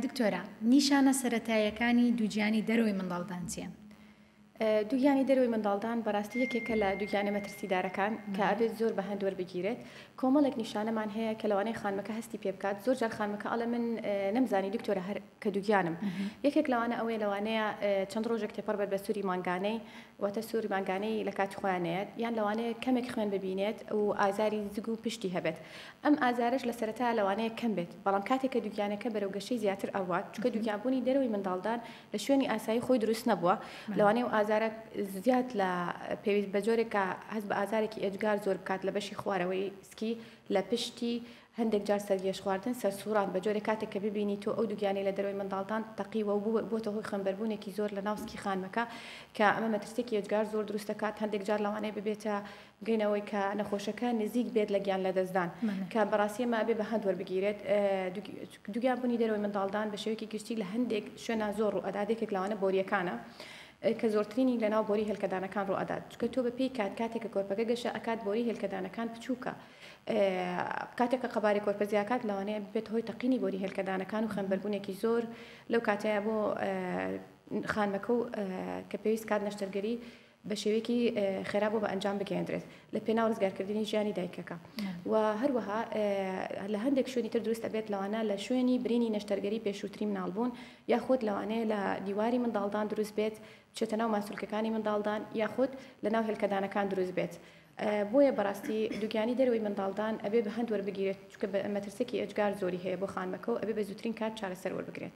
دکتۆرە نیشانە سەرەتاییەکانی دووگیانی دەرەوەی منداڵدان چیە؟ دووگیانی دەروی منداڵدان بەڕاستی یەکێکە لە دووگیانە مەترسیدارەکان کە ئەبێت زۆر بە هەندوەر بگیرێت کۆمەڵێک نیشانەمان هەیە کە لەوانەیە خانمەکە هەستی پێ بکات زۆر جار خانمەکە ئەڵێ من نەمزانی دکتۆرە هەر کە دووگیانم یەکێک لەوانە ئەوەیە لەوانەیە چەند ڕۆژێک تێپەڕ بەر بە سووری مانگانەی واتە سووری مانگانەی لە کاتی خۆیانەیەت یان لەوانەیە کەمێک خوێن ببینێت و ئازاری زگ و پشتی هەبێت ئەم ئازارەش لە سەرەتایا لەوانەیە کەم بێت، بەڵام کاتێک کە دووگیانەکە بەرەو گەشەی زیاتر ئەڕوات، چونکە دووگیانبوونی دەرەوەی منداڵدان لە شوێنی ئاسایی خۆی دروست نەبووە، لەوانەیە ئەو ئازارە زیاد لە پێویست بە جۆرێکە هەست بە ئازارێکی ئێجگار زۆر بکات لە بەشی خوارەوەی سکی لە پشتی، هەندێک جار سەرگێژخواردن، سەرسووڕان، بە جۆرێک کاتێک کە ببینی تۆ ئەو دووگیانەی لە دەرەوەی منداڵدان تەقیوە و بووەتە هۆی خوێنبەربوونێکی زۆر لەناو سکی خانمەکە کە ئەمە مەترسییەکی ئێجگار زۆر دروست دەکات، هەندێک جار لەوانەیە ببێتە گەین ئەوەی کە نەخۆشەکە نزیک بێت لە گیان لەدەستدان کە بەڕاستی ئەمە ئەبێ بە هەند وەربگیرێت دووگیان بوونی دەرەوەی منداڵدان بە شێوەیەکی گشتی لە هەندێک شوێنا زۆر ڕوو ئەدات یەکێک لەوانە بۆریەکانە کە زۆرترینی لەناو بۆری هێلکەدانەکان ڕوو ئەدات چکە تۆ بە پێی کات کاتێکە کۆرپەکە گەشە ئەکات بۆری هێلکەدانەکان بچووکە کاتێکە قەبارەی کۆرپە زیاکات لەوانەیە بێت هۆی تەقینی بۆری هێلکەدانەکان و خوێنبەربوونێکی زۆر لەو کاتەیە بۆ خانمەکە و کە پێویست کات نەشتەرگەری بە شێوەیەکی خێرا بۆ بە ئەنجام بگەیەندرێت لە پێناو ڕزگارکردنی ژیانی دایکەکە و هەروەها لە هەندێک شوێنی تر دروستە بێت لەوانە لە شوێنی برینی نەشتەرگەری پێشووتری مناڵبوون یاخود لەوانەیە لە دیواری منداڵدان دروست بێت چێتە ناو ماسولکەکانی منداڵدان یاخود لە ناو هێلکەدانەکان دروست بێت. بۆیە بەڕاستی دوگیانی دەروی منداڵدان ئەبێ بە هەند وەربگیرێت چکە مەترسێکی ئەجگار زۆری هەیە بۆ خانمەکە و ئەبێ بە زووترین کات چارەسەر وەربگرێت.